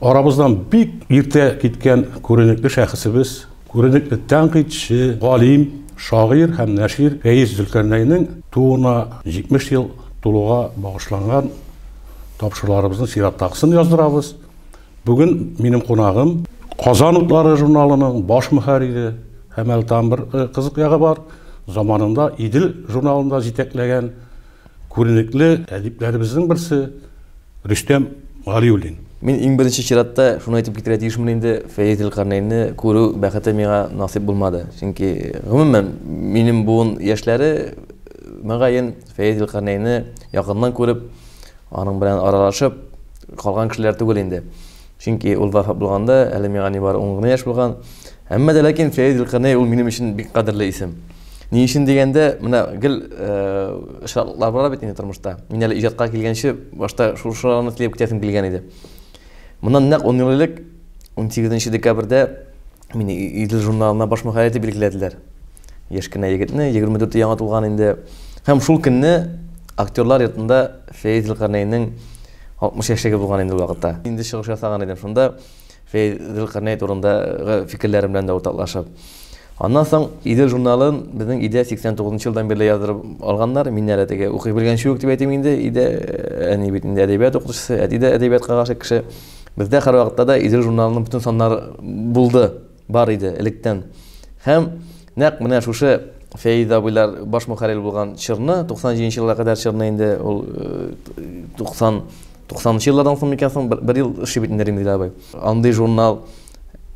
Арабыздан бик иртә киткән күренекле шәхесебез, күренекле тәнкыйтьче, галим, шагыйрь һәм нәшир Фәиз Зөлкарнәйнең тууына 70 ел тулуга багышланган тапшыруларыбызның чираттагысын яздырабыз. Бүген минем кунагым, Казан утлары журналының баш мөхәррире һәм әле тагын бер кызык ягы бар, заманында Идел журналын да җитәкләгән, Күренекле әдипләребезнең берсе Рөстәм Галиуллин. Мин иң беренче чиратта шуны әйтеп китәргә тиешмен инде, Фәиз Зилкарнәйнне күрү бәхете миңа насыйп булмады. Чөнки, гомумән, минем буын яшьләре, мөгаен, Фәиз Зилкарнәйнне якыннан күреп, аның белән аралашып калган кешеләр түгел инде. Чөнки ул вафат булганда әле миңа нибары ун гына яшь булган. Әмма дә ләкин Фәрит Зөлкарнәй ул минем өчен бик кадерле исем. Ни өчен дигәндә, менә гел очраклар бара бит инде тормышта. Мин әле иҗатка килгәнче башта шушыларны теләп китәсем килгән иде. Моннан нәкъ ун ел элек, унсигезенче декабрьдә Мине Идел журналына баш мөхәррир итеп билгеләделәр. Яшь кенә егетне, 24 яңа тулган инде. Һәм шул көнне актерлар йортында Фәиз Зөлкарнәйнең 60 яшьлеге булган инде ул вакытта. Инде чыгыш ясаган идем шунда, Фәиз Зөлкарнәй турындагы фикерләрем белән дә уртаклашып. Аннан соң Идел журналын безнең өйдә 89 нчы елдан бирле яздырып алганнар. Мин әле теге укый белгәнче үк дип әйтим инде, өйдә әни бит инде әдәбият укытучысы, әти дә әдәбиятка гашыйк кеше. Бездә һәрвакытта да Идел журналының бөтен саннары булды, бар иде электән. Һәм нәкъ менә шушы Фәиз абыйлар баш мөхәррир булган чорны, 97 нче елга кадәр чорны инде ул 90 90 нчы еллардан соң микән соң бер ел эшли бит инде Римзил абый. Андый журнал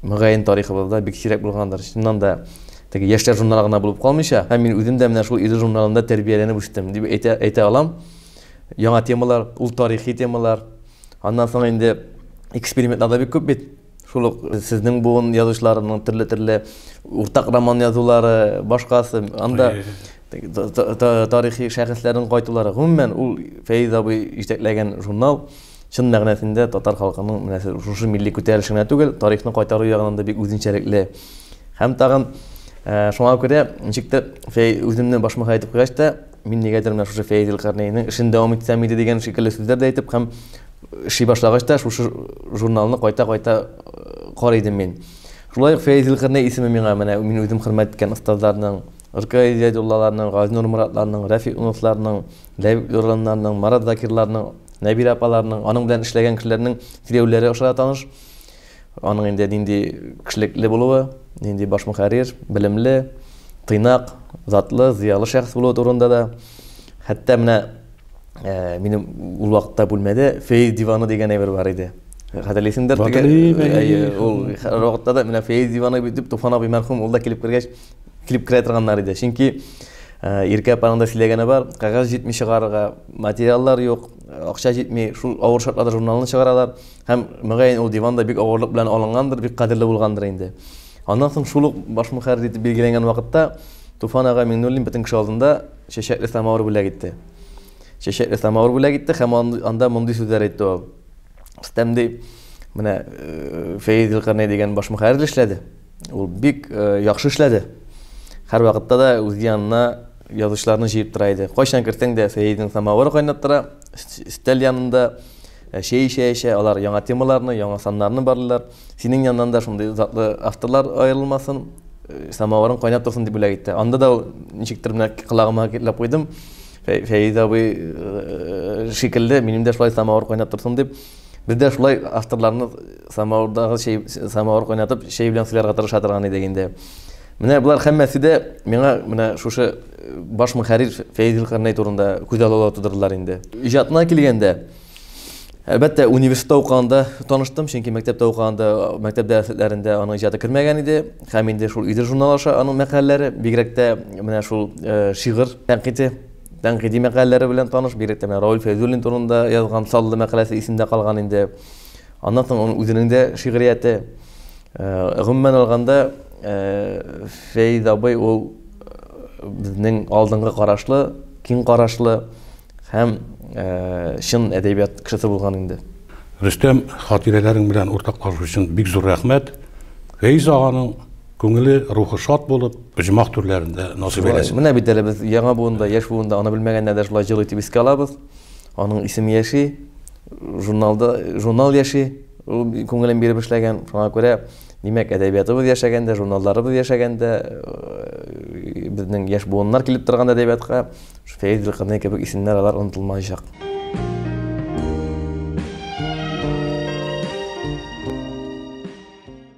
мөгаен тарихыбызда бик сирәк булгандыр. Чыннан да теге яшьләр журналы гына булып калмыйча, һәм мин үзем дә менә шул Идел журналында тәрбияләнеп үстем дип әйтә, әйтә алам. Яңа темалар, ул тарихи темалар. Аннан соң инде экспериментлар да бик күп бит. Шул ук сезнең буын язучыларының төрле-төрле уртак роман язулары, башкасы, анда тарихи шәхесләрнең кайтулары. Гомумән, ул Фәиз абый җитәкләгән журнал чын мәгънәсендә татар халкының менә шушы милли күтәрелеше генә түгел, тарихны кайтару ягыннан да бик үзенчәлекле. Һәм тагын шуңа күрә ничектер Фәиз үземне башмаха итеп куйгач та, Мин нигәдер менә шушы Фәиз Илкарнәйнең эшен дәвам итсәм иде дигән шикелле сүзләр дә әйтеп һәм эшли башлагач та шушы журналны кайта-кайта карый идем мин. Шулай ук Фәиз Илкарнәй исеме миңа менә мин үзем хөрмәт иткән остазларның, Рк Изядуллаларның, Газинур Моратларның, Рәфик Уновларның, Ләбиб Лораннарның, Марат Закирларның, Нәбирә апаларның, аның белән эшләгән кешеләрнең сөйләүләре аша да таныш. Аның инде нинди кешелекле булуы, нинди баш мөхәррир, белемле, тыйнак, затлы, зыялы шәхес булуы турында да. Хәтта менә э, минем ул вакытта бүлмәдә фейз диваны дигән әйбер бар иде. Хәтерлисеңдер теге. Э, ул вакытта да менә фейз диваны дип Туфан абый мәрхүм ул да килеп кергәч килеп керә торганнар иде. Чөнки э, Иркә апаның да сөйләгәне бар, кәгазь җитми чыгарырга материаллар юк, акча җитми, шул авыр шартларда журналны чыгаралар. Һәм, мөгаен, ул диван да бик авырлык белән алынгандыр, бик кадерле булгандыр инде. Аннан соң шул ук баш мөхәррир итеп билгеләнгән вакытта Туфан ага Миңнуллин бөтен кеше алдында чәчәкле самавыр бүләк итте. Чәчәкле самавыр бүләк итте һәм анда мондый сүзләр әйтте ул. Рөстәм ди, менә э, Фәиз Зилкарнәй дигән баш мөхәррир эшләде. Ул бик э, яхшы эшләде. Һәр вакытта да үз янына язучыларны җыеп тора иде. Кайчан керсәң дә Фәизның самавыры кайнап тора, өстәл янында Ә чәй эчә-эчә алар яңа темаларны, яңа саннарны барлыйлар. Синең яннан да шундый затлы авторлар аерылмасын, самавырың кайнап торсын дип бүләк итте. Анда да ничектер менә колагыма китләп куйдым. Фәиз абый шикелле минем дә шулай самавыр кайнап торсын дип, без дә шулай авторларны самавырдагы чәй, самавыр кайнатып, чәй белән сыйларга тырыша торган идек инде. Менә болар һәммәсе дә миңа менә шушы баш мөхәррир Фәйзил Карнай турында күз алала тудырдылар инде. Иҗатына килгәндә, Әлбәттә, университетта укыганда таныштым, чөнки мәктәптә укыганда, мәктәп дәресләрендә аның иҗаты кермәгән иде. Һәм инде шул Идел журнал аша аның мәкаләләре, бигрәк тә менә шул э, шигырь тәнкыйте, тәнкыйди мәкаләләре белән таныш, бигрәк тә менә Рауль Фәйзуллин турында язган Саллы мәкаләсе исемдә калган инде. Аннан соң аның үзенең дә шигърияте. Гомумән алганда, Фәиз абый ул безнең алдынгы карашлы, киң карашлы һәм чын әдәбият кешесе булган инде. Рөстәм, хатирәләрең белән уртаклашу өчен бик зур рәхмәт. Фәиз аганың күңеле, рухы шат булып, оҗмах түрләрендә насыйп әйләсен. Менә бит әле без яңа буын да, яшь буын да аны белмәгәннәр дә шулай җыр итеп искә алабыз. Аның исеме яши, журналда, журнал яши, ул күңелен биреп эшләгән. Шуңа күрә, димәк, әдәбиятыбыз яшәгәндә, журналларыбыз яшәгәндә, э, безнең яшь буыннар килеп торган әдәбиятка Фәиз Гөлкарнәй кебек исемнәр алар онытылмаячак.